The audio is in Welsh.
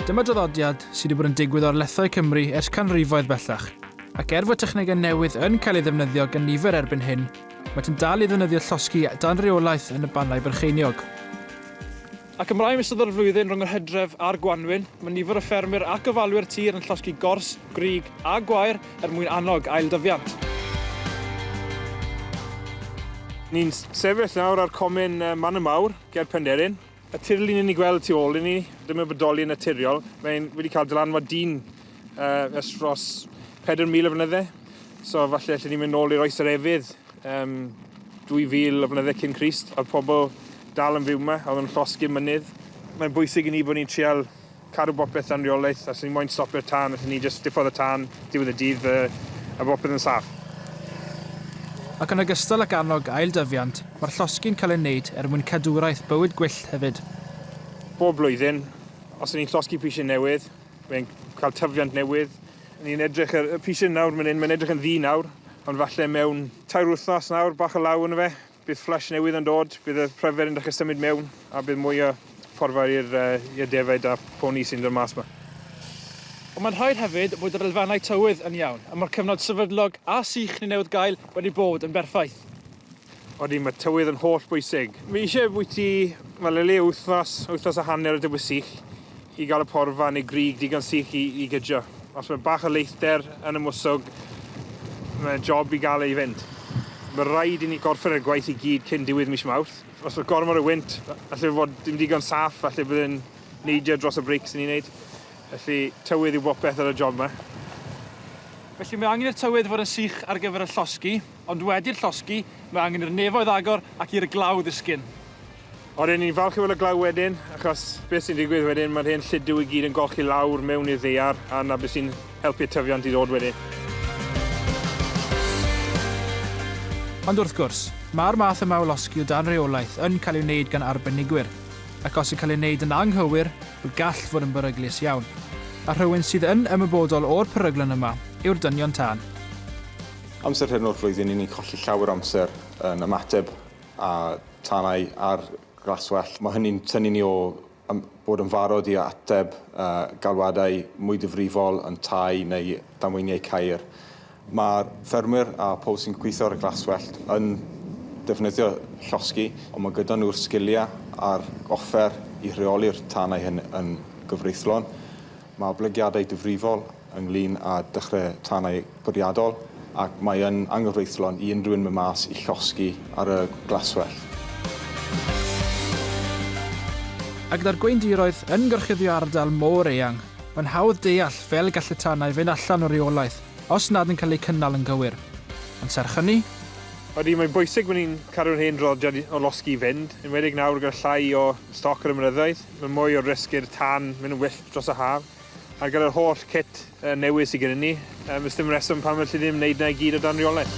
Dyma draddodiad sydd wedi bod yn digwydd o'r lethau Cymru ers canrifoedd bellach, ac er fod technegau newydd yn cael ei ddefnyddio gan nifer erbyn hyn, maent yn dal i ddefnyddio llosgi dan reolaeth yn y bannau byrcheiniog. Ac ymlaen yn ystod yr flwyddyn rhwng yr hydref a'r gwanwyn, mae nifer o ffermwyr ac ofalwyr tir yn llosgi gors, grug a gwair er mwyn annog ailddyfiant. Ni'n sefyll nawr ar comin Man y Mawr, ger Penderyn. Y tirlun i ni'n gweld tu ôl i ni, ddim yn bodoli yn naturiol, mae'n wedi cael dylanwad dyn ers dros 4,000 o flynyddau, so falle allen ni mynd nôl i'r Oes yr Efydd. Am 2000 o flynydde cyn Crist, oedd pobl dal yn fyw yma, oedd yn llosgi'r mynydd. Mae'n bwysig i ni bod ni'n trial cadw bopeth dan reolaeth, a os ni moyn stopio'r tân, allwn ni jyst diffodd y tân, diwedd y dydd, a, a bopeth yn saff. Ac yn ogystal ac annog ailddyfiant, mae'r llosgi'n cael ei wneud er mwyn cadwraeth bywyd gwyllt hefyd. Bob blwyddyn, os y'n ni'n llosgi prisie newydd, mae'n cael tyfiant newydd, Ni'n edrych ar y pishyn nawr man 'yn, mae'n edrych yn ddu nawr, ond falle mewn tair wythnos nawr, bach o law ynddo fe, bydd fflesh newydd yn dod, bydd y pryfed yn dechre symud mewn, a bydd mwy o porfa i'r yy defaid a'r poni sy'n dod mas 'ma. Ond mae'n rhaid hefyd bod yr elfennau tywydd yn iawn, a ma'r cyfnod sefydlog a sych ni'n newydd gael wedi bod yn berffaith. Odi, mae tywydd yn holl bwysig. Fi eisiau bwyty fel o leia wythnos, wythnos a hanner o dywydd sych i gael y porfa neu grug digon sych i, i gydio. Os mae bach o leithder yn y mwswg, mae job i gael ei fynd. Mae rhaid i ni gorffen y gwaith i gyd cyn diwedd mis Mawrth. Os mae gormod o wynt, allai fod dim digon saff, allai bod yn neidio dros y breics ni'n neud. Felly, tywydd yw bopeth ar y job yma. Felly mae angen i'r tywydd fod yn sych ar gyfer y llosgi. Ond wedi'r llosgi, mae angen i'r nefoedd agor ac i'r glaw ddisgyn. O, ry'n ni'n falch i weld y glaw wedyn, achos beth sy'n digwydd wedyn, mae'r hen lludw i gyd yn golchi lawr mewn i'r ddaear, a 'na beth sy'n helpu'r tyfiant i ddod wedyn. Ond wrth gwrs, mae'r math yma o losgi o dan reolaeth yn cael ei wneud gan arbenigwyr, ac os yn cael ei wneud yn anghywir, wel gall fod yn beryglus iawn. A rhywun sydd yn ymwybodol o'r peryglon yma yw'r dynion tân. Amser hyn o'r flwyddyn ni'n ni'n colli llawer o amser yn ymateb a tanau ar glaswellt. Mae hynny'n tynnu ni o ym- bod yn farod i ateb uh, galwadau mwy difrifol yn tai neu damweiniau cair. Mae ffermwyr a pobl sy'n gweithio ar y glaswellt yn defnyddio llosgi, ond mae gyda nhw'r sgiliau a'r offer i rheoli'r tanau hyn yn gyfreithlon. Mae oblygiadau difrifol ynglŷn â dechrau tanau bwriadol ac mae yn anghyfreithlon i unrhyw un mynd mas i llosgi ar y glaswellt. A gyda'r gweindiroedd yn gorchuddio ardal mor eang, mae'n hawdd deall fel y gall y tanau fynd allan o reolaeth os nad yn cael eu cynnal yn gywir. Ond serch hynny, Ydy, mae'n bwysig bod ni'n cadw'r hen draddodiad o losgi i fynd, enwedig nawr gyda llai o stoc ar y mynyddoedd. Mae mwy o risg i'r tân mynd yn wyllt dros yr haf. Ar gyfer yr holl cit newydd sydd gennym ni, does dim rheswm pam alli ddim wneud yna i gyd o dan reolaeth.